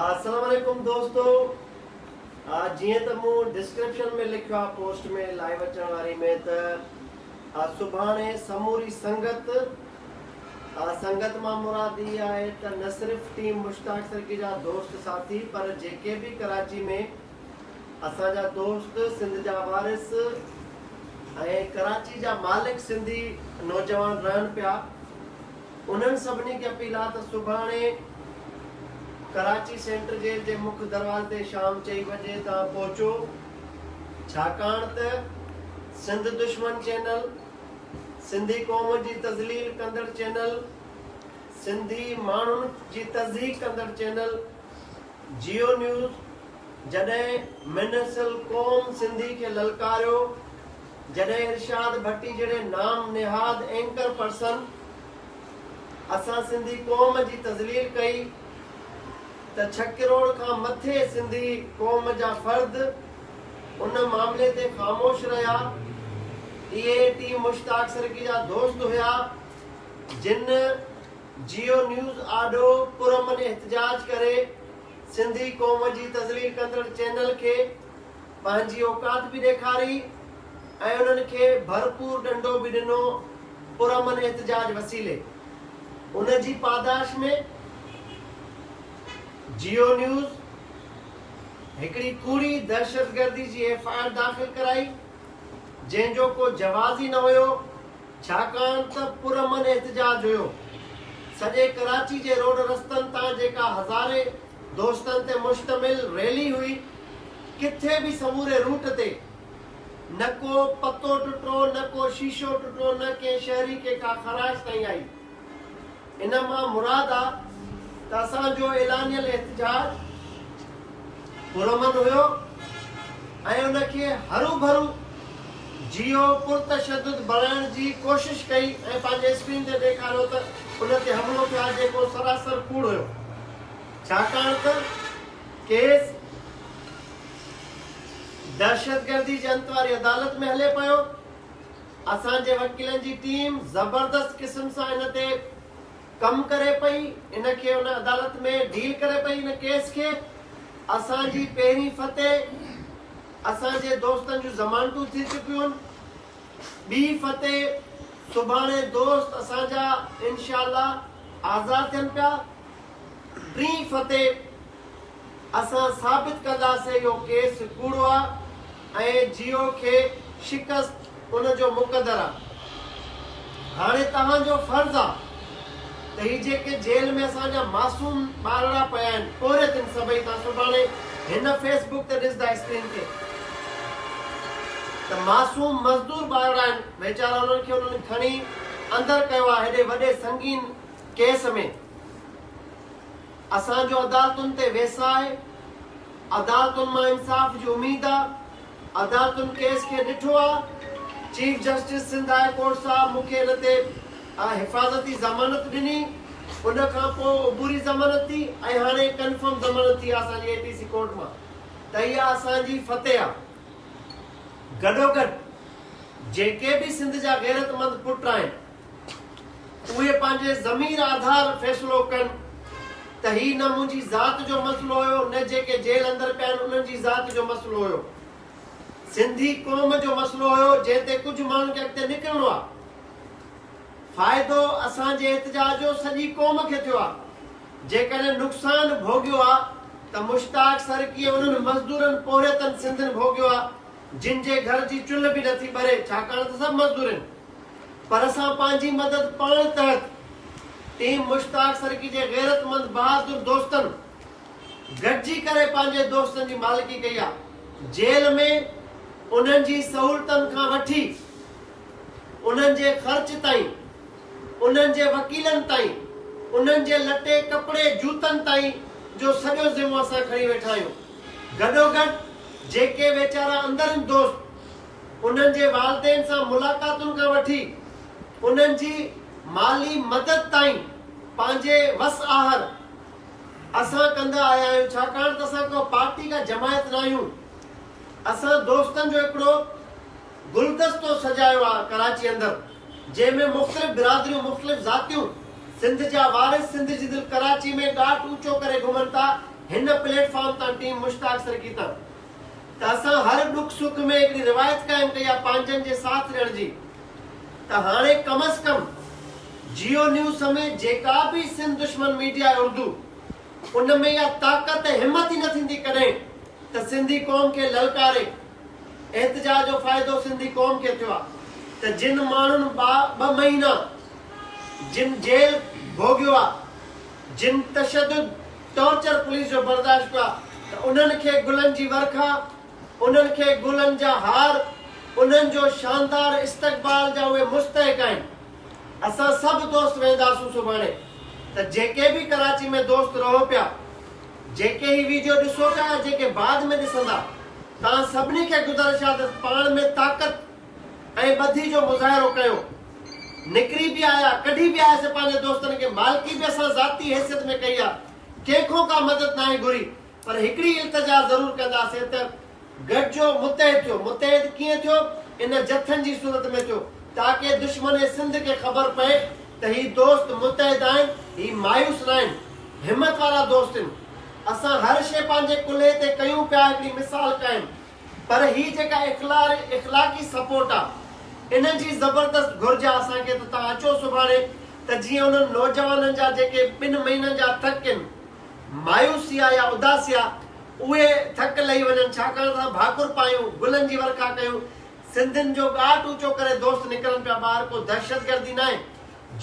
السلام عليڪم دوستو جيئن ته مون ڊسڪرپشن ۾ لکيو آهي پوسٽ ۾ لائيو اچڻ واري ۾ ته سڀاڻي سموري سنگت سنگت مان مراد اي آهي ته نه صرف ٽيم مشتاق سرڪي جا دوست ساٿي پر جيڪي به ڪراچي ۾ اسان جا دوست سنڌ جا وارث ۽ ڪراچي جا مالڪ سنڌي نوجوان رهن پيا انهن سڀني کي اپيل آهي ته سڀاڻي ڪراچي سينٽر جيل جي مک دروازي تي شام چئي بجي تان پهچو ڇاڪاڻ ته سنڌ دشمن چينل، سنڌي قوم جي تذليل ڪندڙ چينل، سنڌي ماڻهن جي تضحيڪ ڪندڙ چينل جيو نيوز جڏهن منحصل قوم سنڌي کي للڪاريو، جڏهن ارشاد ڀٽي جهڙي نام نهاد اينڪر پرسن اسان سنڌي قوم جي تذليل ڪئي ته ڇهه ڪروڙ کان مٿي سنڌي قوم جا فرد ان معاملي تي خاموش رهيا اهي ٽي مشتاق سرڪي جا دوست هيا جن جيو نيوز آڏو پرامن احتجاج ڪري سنڌي قوم جي تذليل ڪندڙ چينل کي پنهنجي اوقات به ڏيکاري ۽ انهن کي ڀرپور ڏنڊو به ڏنو پرامن احتجاج وسيلي ان جي پاداش ۾ جيو نيوز هڪڙي ڪوڙي دهشتگردي جي ايف آء آر داخل ڪرائي جنهن جو ڪو جواز ئي نه هيو. ڇاڪاڻ ته پرامن احتجاج هيو، سڄي ڪراچي جي روڊ رستن تان جيڪا هزارين دوستن تي مشتمل ريلي هئي، ڪٿي به سموري روٽ تي نه ڪو پتو ٽٽو، نه ڪو شيشو ٽٽو، نه ڪنهن شهري کي ڪا خراش تائين آئي. ان مان مراد آ ته اسان جو اعلانيه الاحتجاج پرامن هيو ۽ ان کي هروڀرو جيو پرتشدد بڻائڻ جي ڪوشش ڪئي ۽ پنهنجي اسڪرين تي ڏيکاريو ته ان تي حملو ٿيو آ جيڪو سراسر ڪوڙ هيو ڇاڪاڻ ته ڪيس دهشتگردي جي انت واري عدالت ۾ هلي پيو. اسان جي وڪيلن جي ٽيم زبردست قسم سان ان تي ڪم ڪري پئي، ان کي ان عدالت ۾ ڊيل ڪري پئي ان ڪيس کي، اسان جي پهرين فتح اسان جي دوستن جون ضمانتون ٿي چڪيون، ٻي فتح سڀاڻي دوست اسان جا انشاء الله آزاد ٿين پيا، ٽين فتح. اسان ثابت ڪنداسين اهو ڪيس ڪوڙو آ ۽ جيو کي شڪست ان جو مقدر آ. هاڻي توهان جو فرض آ ته هي جيڪي جيل ۾ اسان جا معصوم ٻارڙا پيا آهن پورهيت هن سڀئي توهان سڀاڻي هن فيس بوڪ تي ڏسدا اسڪرين تي ته معصوم مزدور ٻارڙا آهن ويچارا انهن کي انهن کڻي اندر ڪيو آ هيڏي وڏي سنگين ڪيس ۾. اسان جو عدالتن تي ويساهه، عدالتن مان انصاف جي اميد آ، عدالتن ڪيس کي ڏٺو آ، chief justice Sindh high court صاحب مون کي ان تي حفاظتي ضمانت ڏني، ان کان پوء عبوري ضمانت ٿي ۽ هاڻي ڪنفرم ضمانت ٿي آ اسان جي اي پي سي ڪورٽ مان ته اها اسان جي فتح آ. گڏوگڏ جيڪي به سنڌ جا غيرتمند پٽ آهن. اهي پنهنجي ضمير آڌار فيصلو ڪن ته هي نه منهنجي ذات جو مسئلو هيو نه جيڪي جيل اندر پيا آهن انهن جي ذات جو مسئلو هيو سنڌي قوم جو مسئلو هيو جنهن تي ڪجهه ماڻهن کي اڳتي نڪرڻو آهي فائدو اسان جي احتجاج جو سڄي قوم کي ٿيو آهي جيڪڏهن نقصان ڀوڳيو آهي ته مشتاق سر ڪيئن انهن مزدورن پورهيتن سنڌين ڀوڳيو آهي جن جي گهر جي چلهه به نٿي ٻري ڇاڪاڻ ته سڀ مزدورين پر اسان پنهنجي مدد پاڻ تحت ٽيم مشتاق سرڪي جي غيرتمند بهادر دوستن گڏجي ڪري پنهنجي دوستن جي مالڪي ڪئي آ جيل ۾ انهن جي سهولتن کان وٺي انهن جي خرچ تائين انهن جي وڪيلن تائين انهن جي لٽي ڪپڙي جوتن تائين جو سڄو ذمو اسان کڻي ويٺا آهيون گڏوگڏ جيڪي ويچارا اندرين دوست انهن جي والدين سان ملاقاتن کان وٺي انهن جي مالي مدد تائين پنهنجي وس آهر اسان ڪندا آيا آهيون ڇاڪاڻ ته اسان ڪا پارٽي ڪا جماعت ناهيون اسان دوستن جو هڪڙو گلدستو سجايو آ ڪراچي اندر جنهن ۾ مختلف برادريون مختلف ذاتيون سنڌ جا وارث سنڌ جي دل ڪراچي ۾ ڏاٽ اوچو ڪري گهمن تا هن پليٽ فارم تان ٽيم مشتاق سرڪي تان ته اسان هر ڏک سک ۾ هڪڙي روايت قائم ڪئي آهي پنهنجن جي ساٿ ڏيڻ جي ته هاڻي ڪم از ڪم جيو نيوز سميت جيڪا به سنڌ دشمن ميڊيا آهي اردو ان ۾ اها طاقت ۽ همت ئي نه ٿيندي ڪڏهن ته سنڌي قوم کي للڪاري احتجاج جو فائدو سنڌي قوم کي ٿيو آهي ته جن ماڻهن ٻه مهينا جن جيل ڀوڳيو آهي جن تشدد ٽارچر پوليس جو برداشت ڪيو آهي ته انهن کي گلن جي ورکا، انهن کي گلن جا هار، انهن جو شاندار استقبال جا اهي مستحق آهن. اسان سڀ دوست وينداسون سڀاڻي ته جيڪي به ڪراچي ۾ دوست رهو پيا، جيڪي هي ويڊيو ڏسو پيا يا جيڪي بعد ۾ ڏسندا، توهان سڀني کي گذارش آهي ته پاڻ ۾ طاقت، ۽ ٻڌي جو مظاهرو ڪيو. نڪري به آيا، ڪڍي به آيس، پنهنجي دوستن کي مالڪي به اسان ذاتي حيثيت ۾ ڪئي آ، ڪنهن کون ڪا مدد ناهي گهري، پر هڪڙي التجا ضرور ڪنداسين ته گڏجو متحد ٿيو، متحد ڪيئن ٿيو، ان جٿن جي صورت ۾ ٿيو، تاڪه دشمن سنڌ کي خبر پئي ته هي دوست متحد آهن، هي مايوس ناهن، همت وارا دوست هن. اسان هر شيء پنهنجي ڪلهي تي ڪيون پيا هڪڙي مثال قائم پر هي جيڪا اخلاقي سپورٽ آ ان جي زبردست گهرج آ اسان کي ته توهان اچو سڀاڻي ته جيئن انهن نوجوانن جا جيڪي ٻن مهينن جا ٿڪ ان مايوسي آ يا اداسي آ اهي ٿڪ لهي وڃن ڇاڪاڻ ته اسان ڀاڪر پايون گلن جي ورکا ڪيون سنڌين جو ڳاٽ اوچو ڪري دوست نڪرن پيا ٻاهر ڪو دهشت گردي ناهي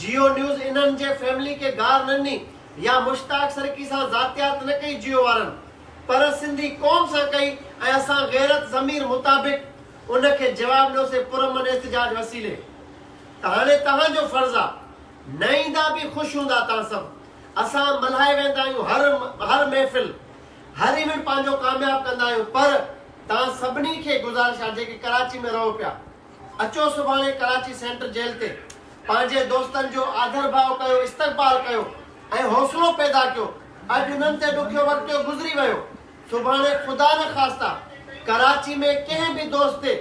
جيو نيوز انهن جي فيملي کي گار نه ڏني يا مشتاق سرڪي سان ذاتيات نه ڪئي جيو وارن پر سنڌي قوم سان ڪئي ۽ اسان غيرت ضمير مطابق ان کي جواب ڏنوسين پرامن احتجاج وسيلي ته هاڻي توهان جو فرض آ نه ايندا به خوش هوندا توهان سڀ اسان ملهائي ويندا آهيون هر هر محفل هر ايونٽ پنهنجو ڪامياب ڪندا آهيون پر توهان سڀني کي گذارش آ جيڪي ڪراچي ۾ رهو پيا اچو سڀاڻي ڪراچي سينٽر جيل تي پنهنجي دوستن جو آڌرڀاء ڪيو استقبال ڪيو ۽ حوصلو پيدا ڪيو اڄ انهن تي ڏکيو وقتيو گذري ويو سڀاڻي خدا نه خاستا ڪراچي ۾ ڪنهن به دوست تي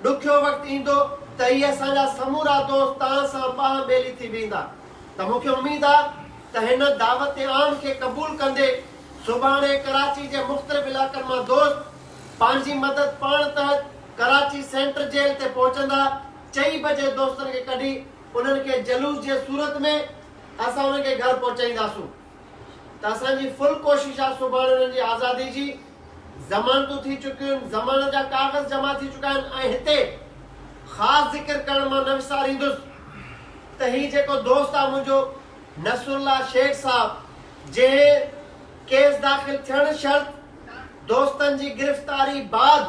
ڏکيو وقت ايندو ته اهي اسان جا سمورا دوست تان سان ٻانهن ٻيلي ٿي بيهندا ته مون کي اميد آ ته هن دعوت عام کي قبول ڪندي سڀاڻي ڪراچي جي مختلف علائقن مان دوست پنهنجي مدد پاڻ تحت ڪراچي سينٽر جيل تي پهچندا چئي بجي دوستن کي ڪڍي انهن کي جلوس جي صورت ۾ اسان انهن کي گهر پهچائينداسون ته اسان جي فل ڪوشش آ سڀاڻي انهن جي آزادي جي ضمانتون ٿي چڪيون ضمانت جا ڪاغذ جمع ٿي چڪا آهن ۽ هتي خاص ذڪر ڪرڻ مان نه وساريندس ته هي جيڪو دوست آ منهنجو نصرالله شيخ صاحب جنهن ڪيس داخل ٿيڻ شرط دوستن جي گرفتاري بعد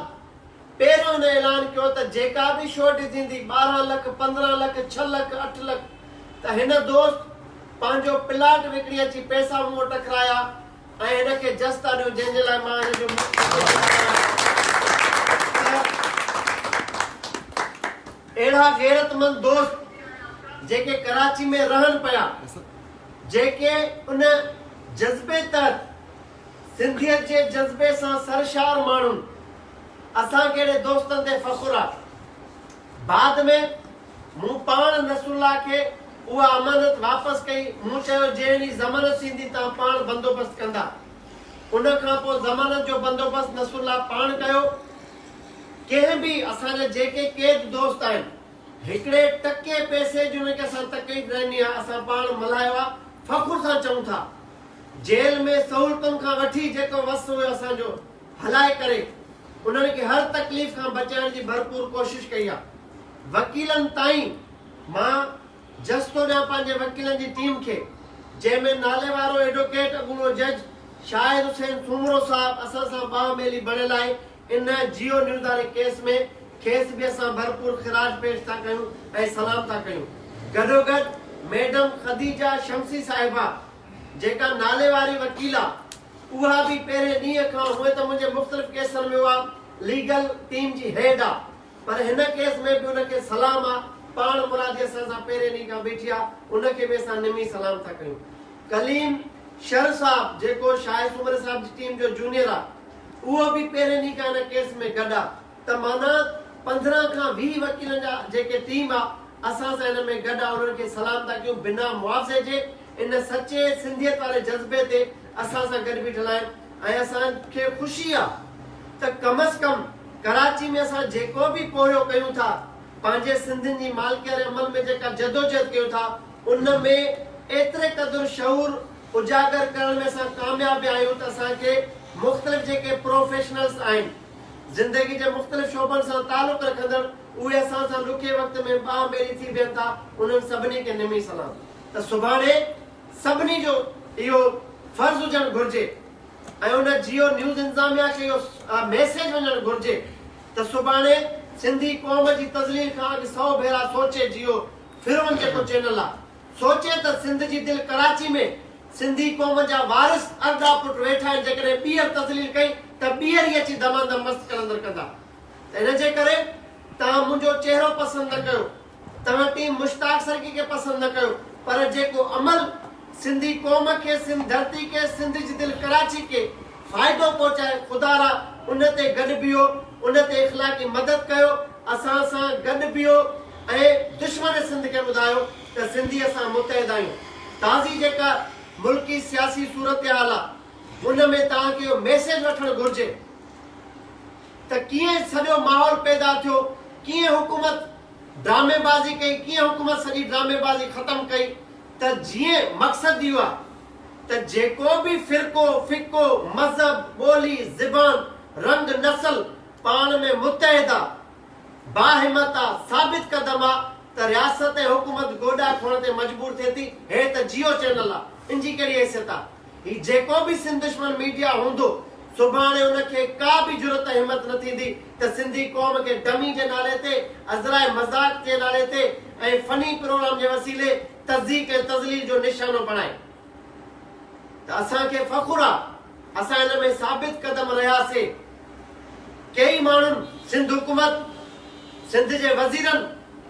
پهريون هن اعلان ڪيو ته جيڪا به شو ڊڄيندي ٻارهن لک پندرهن لک ڇهه لک اٺ لک ته هن دوست پنهنجو پلاٽ وڪڻي اچي پئسا مون وٽ ڪرايا ۽ هن کي جستا ڏيون جنهن جي لاء مان هن جو شڪرگذار آهيان ته اهڙا غيرتمند دوست جيڪي ڪراچي ۾ رهن پيا جيڪي ان جذبي تحت سنڌيت جي جذبي سان سرشار ماڻهن اسان جهڙي دوستن تي فخر آ. بعد ۾ مون پاڻ نصرالله کي اها امانت واپس ڪئي مون چيو جنهن ڏينهن ضمانت ٿيندي تان پاڻ بندوبست ڪندا. ان کان پوء ضمانت جو بندوبست نصرالله پاڻ ڪيو. ڪنهن به اسان جا جيڪي قيد دوست آهن هڪڙي ٽڪي پئسي جي انهن کي اسان تقريب رهني آ اسان پاڻ ملهايو آ فخر سان چئون ٿا. جيل ۾ سهولتن کان وٺي جيڪو وس هيو اسان جو هلائي ڪري انهن کي هر تڪليف کان بچائڻ جي ڀرپور ڪوشش ڪئي آ وڪيلن تائين مان جس ٿو ڏيان پنهنجي وڪيلن جي ٽيم کي جنهن ۾ ناليوارو ايڊوڪيٽ اڳوڻو جج شاهد حسين سومرو صاحب اسان سان ٻانهن ٻيلي بڻيل آهي ان جيو نيوز واري ڪيس ۾ کيس به اسان ڀرپور خراج پيش ٿا ڪيون ۽ سلام ٿا ڪيون گڏوگڏ ميڊم خديجه شمسي صاحبه جيڪا ناليواري وڪيل آ اها به پهرين ڏينهن کان هونئن ته منهنجي مختلف ڪيسن ۾ اها ليگل ٽيم جي هيڊ آ پر هن ڪيس ۾ به ان کي سلام آ پاڻ مرادي اسان سان پهرين ڏينهن کان بيٺي آ ان کي به اسان نمي سلام ٿا ڪيون ڪليم شر صاحب جيڪو شاهه سومري صاحب جي ٽيم جو جونيئر آ اهو به پهرين ڏينهن کان هن ڪيس ۾ گڏ آ ته معنيٰ پندرهن کان ويهه وڪيلن جا جيڪي ٽيم آ اسان سان هن ۾ گڏ آ انهن کي سلام ٿا ڪيون بنا معاوضي جي ان سچي سنڌيت واري جذبي تي اسان سان گڏ بيٺل آهن ۽ اسان کي خوشي آ ته ڪم از ڪم ڪراچي ۾ اسان جيڪو به پورهيو ڪيون ٿا پنهنجي سنڌين جي مالڪي واري عمل ۾ جيڪا جدوجهد ڪيون ٿا ان ۾ ايتري قدر شعور اجاگر ڪرڻ ۾ اسان ڪامياب ويا آهيون ته اسان کي مختلف جيڪي پروفيشنلز آهن زندگي جي مختلف شعبن سان تعلق رکندڙ اهي اسان سان ڏکي وقت ۾ ٻانهه ٻيلي ٿي بيهن ٿا انهن سڀني کي نمي سلام. ته سڀاڻي سڀني جو اهو فرض هجڻ گهرجي ۽ ان جيو نيوز انتظاميا کي اهو ميسيج وڃڻ گهرجي ته سڀاڻي سنڌي قوم جي تذليل کان اڳ سئو ڀيرا سوچي جيو فرعون جيڪو چينل آ سوچي ته سنڌ جي دل ڪراچي ۾ سنڌي قوم جا وارث ارڏا پٽ ويٺا آهن جيڪڏهن ٻيهر تذليل ڪئي ته ٻيهر ئي اچي دمادم مست قلندر ڪندا ته ان جي ڪري توهان منهنجو چهرو پسند نه ڪيو توهان ٽيم مشتاق سرڪي کي پسند نه ڪيو پر جيڪو عمل سنڌي قوم کي سنڌ ڌرتي کي سنڌ جي دل ڪراچي کي فائدو پهچائي خدا را ان تي گڏ بيهو ان تي اخلاقي مدد ڪيو اسان سان گڏ بيهو ۽ دشمن سنڌ کي ٻڌايو ته سنڌي اسان متحد آهيون تازي جيڪا ملڪي سياسي صورتحال آ ان ۾ توهان کي اهو ميسيج وٺڻ گهرجي. ته ڪيئن سڄو ماحول پيدا ٿيو، ڪيئن حڪومت ڊرامي بازي ڪئي، ڪيئن حڪومت سڄي ڊرامي بازي ختم ڪئي ته جيئن مقصد اهو آهي ته جيڪو به فرقو، فقو، مذهب، ٻولي، زبان، رنگ، نسل پاڻ ۾ متحد آ، باهمت آ، ثابت قدم آ ته رياست ۽ حڪومت گوڏا کوئڻ تي مجبور ٿئي ٿي، هي ته جيو چينل آ، ان جي ڪهڙي حيثيت آ؟ هي جيڪو به سنڌ دشمن ميڊيا هوندو سڀاڻي ان کي ڪا به جرئت ۽ همت نه ٿيندي ته سنڌي قوم کي ڊمي جي نالي تي ازراء مذاق جي نالي تي ۽ فني پروگرام جي وسيلي تضيق ۽ تذليل جو نشانو بڻائي ته اسان کي فخر آ اسان ان ۾ ثابت قدم رهياسي. ڪيئي ماڻهن سنڌ حڪومت، سنڌ جي وزيرن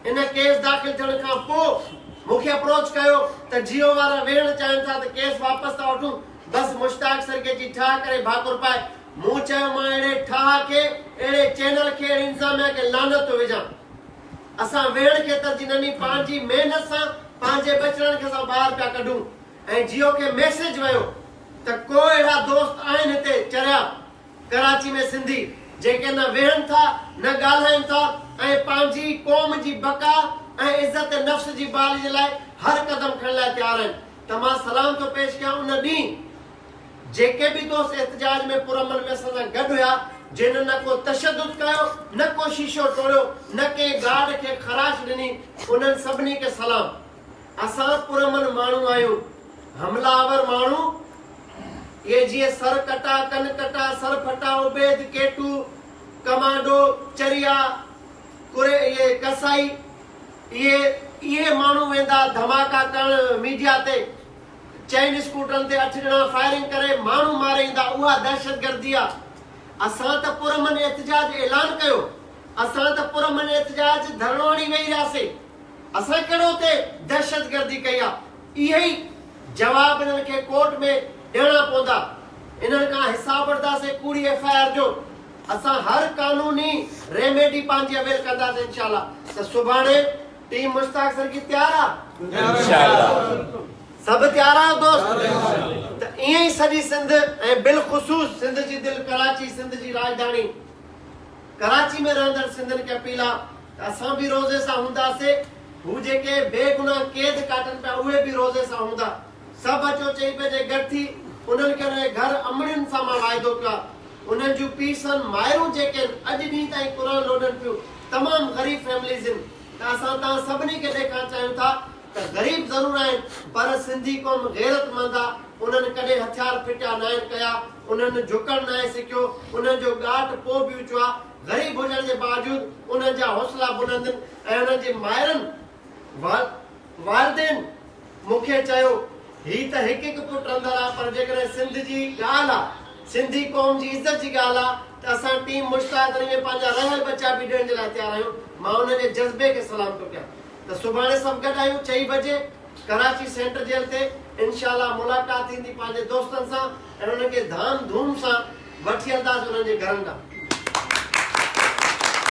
ان ڪيس داخل ٿيڻ کان پوء مون کي اپروچ ڪيو ته جيو وارا ويهڻ چاهين ٿا ته ڪيس واپس ٿا وٺون بس مشتاق سرگيجي ٺاهه ڪري ڀاڪر پائي مون چيو مان اهڙي ٺاهه کي اهڙي چينل کي اهڙي انتظاميا کي لعنت ٿو وجهان اسان ويهڻ کي ترجيح نني پنهنجي محنت سان پنهنجي ٻچڙن کي اسان ٻاهر پيا ڪڍون ۽ جيو کي ميسيج ويو ته ڪو اهڙا دوست آهن هتي چريا ڪراچي ۾ سنڌي جيڪي نه ويهن ٿا نه ڳالهائين ٿا ۽ پنهنجي قوم جي بقا ۽ عزت نفس جي بحالي جي لاء هر قدم کڻڻ لاء تيار آهن ته مان سلام ٿو پيش ڪيان ان ڏينهن جيڪي به دوست احتجاج ۾ پرامن ۾ اسان سان گڏ هيا جنهن نه ڪو تشدد ڪيو نه ڪو شيشو ٽوڙيو نه ڪنهن گارڊ کي خراش ڏني انهن سڀني کي سلام. اسان پرامن ماڻهو آهيون، حمله آور ماڻهو اهي جيئن سر ڪٽا، ڪن ڪٽا، سر ڦٽا، عبيد، ڪيٽو، ڪمانڊو، چريا، ڪري، اهي ڪسائي، اهي اهي ماڻهو ويندا ڌماڪا ڪرڻ ميڊيا تي، چئن اسڪوٽرن تي اٺ ڄڻا فائرنگ ڪري ماڻهو ماري ايندا، اها دهشتگردي آ، اسان ته پرامن احتجاج اعلان ڪيو، اسان ته پرامن احتجاج ڌرڻو هڻي ويهي رهياسين. اسان ڪهڙو اتي دهشتگردي ڪئي آ. اهي ئي جواب انهن کي ڪورٽ ۾ ڏيڻا پوندا. انهن کان حساب وٺداسين ڪوڙي ايف آء آر جو. اسان هر قانوني ريميڊي پنهنجي اويل ڪنداسين انشاء الله ته سڀاڻي ٽيم مشتاق سر جي تيار آ؟ انشاء الله. سڀ تيار آهيو دوست؟ ته ائين ئي سڄي سنڌ ۽ بالخصوص سنڌ جي دل ڪراچي سنڌ جي راڄڌاڻي ڪراچي ۾ رهندڙ سنڌين کي اپيل آ ته اسان به روزي سان هونداسين، هو جيڪي بي گناهه قيد ڪاٽن پيا اهي به روزي سان هوندا. سڀ اچو چئي پنهنجي گڏ ٿي، انهن کي انهن جي گهر امڙين سان مان واعدو ڪيو آهي. انهن جون پيرسن، مائرون جيڪي هن اڄ ڏينهن تائين قرآن لوڏن پيون، تمام غريب فيمليز هن ته اسان توهان سڀني کي ڏيکارڻ چاهيون ٿا ته غريب ضرور آهن پر سنڌي قوم غيرت مند آ انهن ڪڏهن هٿيار ڦٽيا ناهن ڪيا، انهن جهڪڻ ناهي سکيو، انهن جو ڳاٽ پوء به اچو آ. غريب هجڻ جي باوجود انهن جا حوصلا بلند ۽ انهن جي مائرن، والدين، مون کي چيو، هي ته هڪ هڪ پٽ رندل آ پر جيڪڏهن سنڌ جي ڳالهه آ، سنڌي قوم جي عزت جي ڳالهه آ ته اسان ٽيم مشتاق علي ۾ پنهنجا رهيل ٻچا به ڏيڻ جي لاء تيار آهيون، مان انهن جي جذبي کي سلام ٿو ڪيان ته سڀاڻي سڀ گڏ آهيون چئي بجي ڪراچي سينٽر جيل تي انشاء الله ملاقات ٿيندي پنهنجي دوستن سان. ۽ انهن کي ڌام ڌوم سان وٺي هلنداسين انهن جي گهرن ڏانهن.